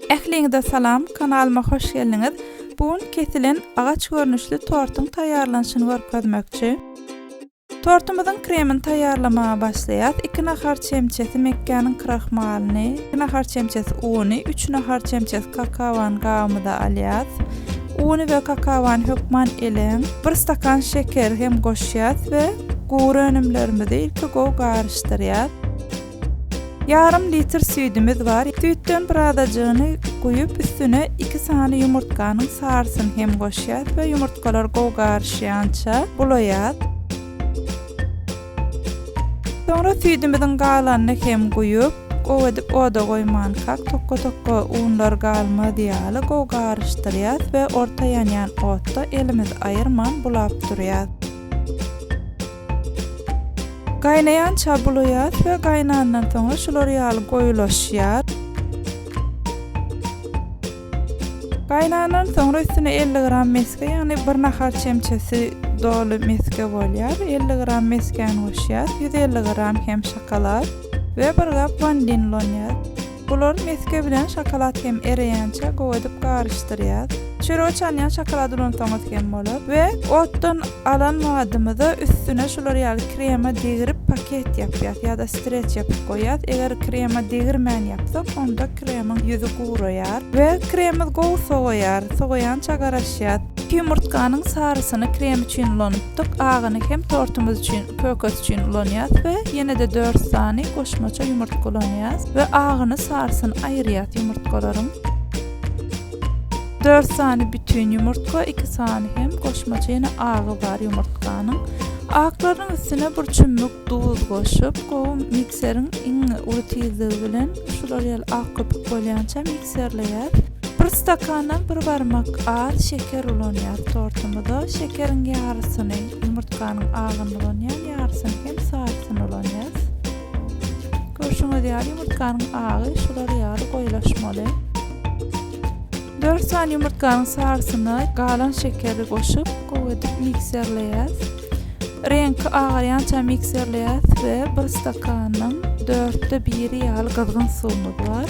Ähliňize salam kanalyma hoş geldiňiz. Bu gün kesilen agaç görnüşli tortuň taýýarlanyşyny görkezmekçi. Tortumyzyň kremini taýýarlamaga başlaýas. 2 nahar çemçesi mekgäniň krahmalyny, 2 nahar çemçesi uny, 3 nahar çemçesi kakaony gabymyza alýas. Uny we kakaony hökman eleň. 1 stakan şekeri hem goşýas we gury önümlerimizi ilki gowy garyşdyrýas. Ýarym litr süýdümiz bar. Süýtden birazajygyny guýup, üstüne iki sany ýumurtganyň sarysyny hem goşýas we ýumurtgalar gowy garyşýança bulaýas. Soňra süýdümiziň galanyny hem guýup, gowy edip oda goýmankak, tokga-tokga unlar galmaz ýaly gowy garyşdyrýas we orta ýanýan otda elimizi aýyrman bulap durýas. Gaýnaýança bulaýas we gaýnandan soňra şular ýaly goýulaşýar. Gaýnandan soňra üstüne elli gram mesge, ýagny bir nahar çemçesi doly mesge bolýar. Elli gram mesgäni goşýas, ýüz elli gram hem şokolad we bir gap wanilin ulanýas. Bulary mesge bilen şokolad hem ereýänçä gowy edip garyşdyrýas. Çöregi çalýan şokolady ulansaňyz hem bolar we otdan alan badymyzy üstüne şular ýaly krema degirip paket ýapýas ýa-da streç ýapyp goýýas. Eger krema degirmän ýapsak, onda kremyň ýüzi guraýar we kremimiz gowy sowaýar. Sowaýança garaşýas. Ýumurtganyň sarysyny krem üçin ulanypdyk, agyny hem tortumyz üçin. Pökes üçin ulanýas we ýene-de dört sany goşmaça ýumurtga ulanýas we agyny sarysyn aýyrýas ýumurtgalaryň. Dört sany bütin ýumurtga, iki sany hem goşmaça ýene agy bar ýumurtganyň. Aklarynyň üstüne bir çümmük duz goşup, gowy mikseriň iň uly tizligi bilen şular ýaly ak köpük bolýança mikserleýäs. Bir stakandan bir barmak az şeker ulanýas tortumyza. Şekeriň ýarysyny, ýumurtganyň agyny ulanýan ýarysyny hem sarysyny ulanýas. Görşüňiz ýaly ýumurtganyň agy şular ýaly goýulaşmaly. 4 sany ýumurtganyň sarysyna galan şekeri goşup, gowy edip mikserleýäs. Reňki agarýança mikserleýäs we bir stakanyň dörtde biri ýaly gyzgyn suwumyz bar.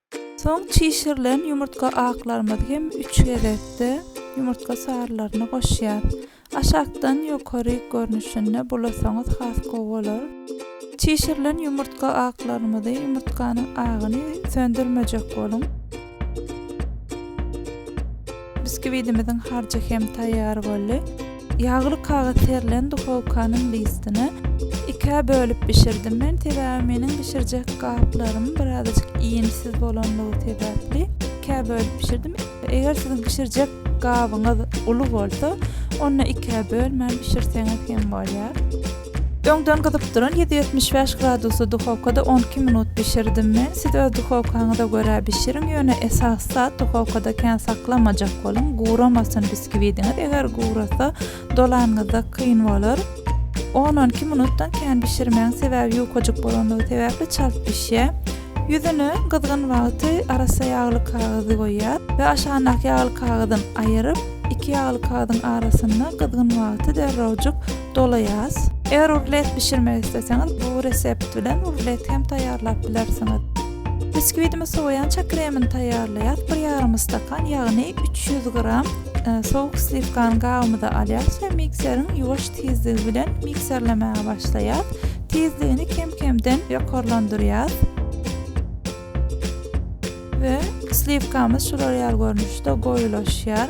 Soň çişirilen ýumurtga aklarymyzy hem üç gezekde ýumurtga sarylaryna goşýarys. Aşakdan ýokary görnüşinde bulasaňyz has gowy bolar. Çişirilen ýumurtga aklarymyzy, ýumurtganyň agyny söndürmejek boluň. Biskwidiimiziň harjy hem taýýar boldy. Ýagly kagyz serilen duhowkanyň listini ikä bölüp bişirdim men, sebäbi meniň bişirjek gaplarym birazajyk iýmsiz bolanlygy sebäpli ikä bölüp bişirdim. Eger siziň bişirjek gabyňyz uly bolsa, onda ikä bölmän bişirseňiz hem bolýar. Öňden gyzyp duran ýüz ýetmiş bäş gradusly duhowkada on iki minut bişirdim men, siz öz duhowkaňyza görä bişiriň, ýöne esasy zat duhowkada kän saklamajak boluň, guramasyn biskiwidiňiz, eger gurasa dolanyňyzda kyn bolar. On on iki minutdan kän bişirmäň, sebäbi ýukajyk bolanlygy sebäpli çalt bişýär. Ýüzüne gyzgyn wagty arassa ýagly kagyzy goýýas we aşagyndaky ýagly kagyzyn aýyryp, iki ýagly kagyzyň arasynda gyzgyn wagty derrewjik dolaýas. Eger rulet bişirmek isleseňiz, bu resept bilen rulet hem taýýarlap bilersiňiz. Biskwidiňi sowaýança kremini taýýarlaýas. Bir ýarym stakan, ýagny üç ýüz gram sowuk sliwkany gabymyza alýas we mikseriň ýuwaş tizligi bilen mikserlemäge başlaýas. Tizligini kem-kemden ýokarlandyrýas. We sliwkamyz şular ýaly görnüşde goýulaşýar.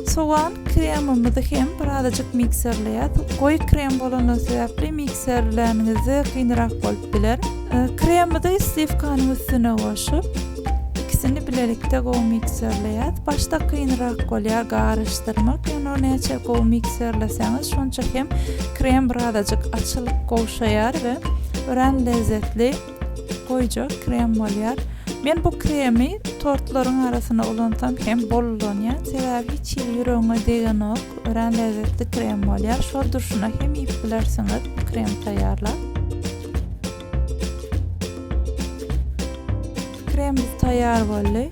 Sogan kremimizi hem birazajyk mikserleýäs. Goýy krem bolany sebäpli mikserlänizde kynrak bolup biler. Kremimizi sliwkanyň üstüne goşup, ikisini bilelikde gowy mikserleýäs. Başda kynrak bolýar garyşdyrmak, ýöne näçe gowy mikserleseňiz, şonça hem krem birazajyk açylyp gowşaýar we örän lezzetli Goýja krem bolýar. Men bu kremi tortlaryň arasyna ulansam hem bollanýan, sebäbi hiç hili ýüregiňe degenok, örän lezzetli krem bolýar. Şol durşuna hem iýip bilersiňiz krem taýýarlap. Kremimiz taýýar boldy.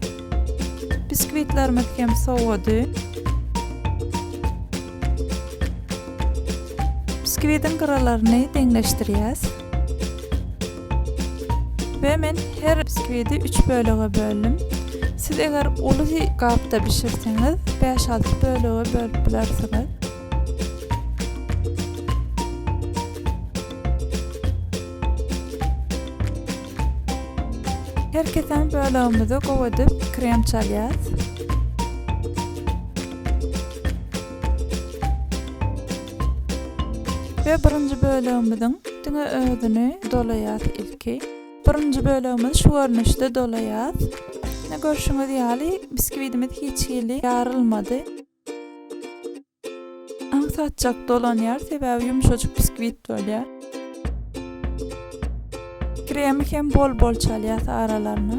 Biskwitlerimiz hem sowady. Biskwidiň gyralaryny deňleşdirýäs. We men her bskwidi üç bölege böldüm. Siz eger uly gapda bişirseňiz, bäş-alty bölege bölüp bilersiňiz. Her kesen bölegimizi gowy edip krem çalýas. We birinji bölegimiziň diňe özüni dolaýas ilki. Birinji bölegimizi şu görnüşde dolaýas. Ine görşüňiz ýaly biskwidimiz hiç hili ýarylmady. Aňsatjak dolanýar, sebäbi ýumşajyk biskwit bolýar. Kremi hem bol-bol çalýas aralaryna.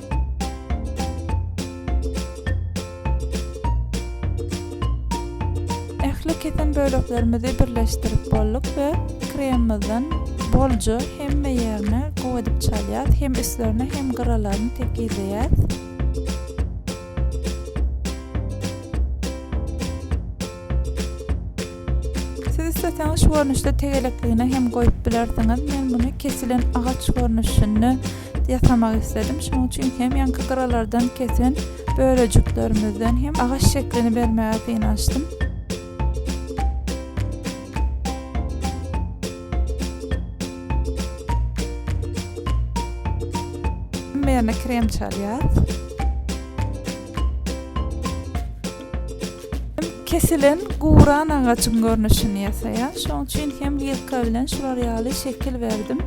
Ähli kesen böleklerimizi birleşdirip bolduk we kremmizden bolja hemme ýerine gowy edip çalýas, hem üstlerine hem gyralaryny tekizleýäs. Siz isleseňiz şu görnüşde tegelekligine hem goýup bilersiňiz. Men muny kesilen agaç görnüşinde ýasamak isledim. Şonuň üçin hem ýaňky gyralardan kesen bölejiklerimizden hem agaç şeklini bermäge synanyşdym. Ýerine krem çalýas. Kesilen guran agajyň görnüşini ýasaýar. Şoň üçin hem wilka bilen şular ýaly şekil berdim.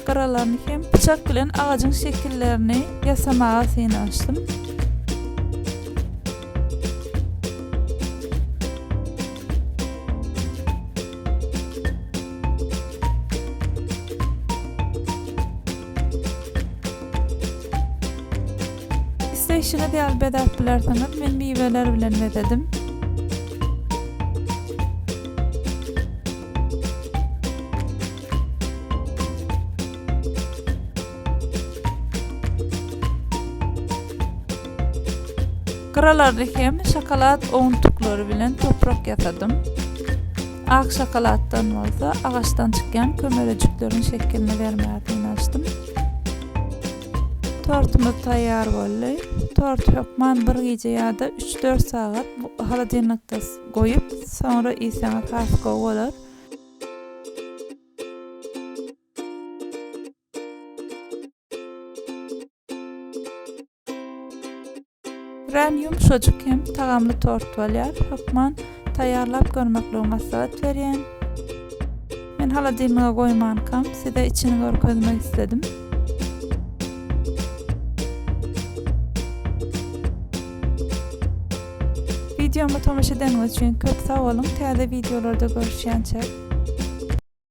Gyralaryny hem pyçak bilen agajyň şekillerini ýasamaga synanyşdym. Isleýşiňiz ýaly bezäp bilersiňiz, men miweler bilen bezedim. Gyralaryny hem şokolad owuntyklary bilen toprak ýasadym. Ak şokoladdan bolsa agaçdan çykýan kömelejikleriň şekilini bermäge synanyşdym. Tortumyz taýýar boldy. Torty hökman bir gije ýa-da üç-dört sagat holodilnikde goýup, soňra iýseňiz has gowy bolar. Rän ýumşajyk hem tagamly tort bolýar. Hökman taýýarlap görmekligiňi maslahat berýän. Men holodilniga goýmankam, size içini görkezmek isledim. Wideoma tomaşa edeniňiz üçin köp sag boluň, täze wideolarda görüşýänçä!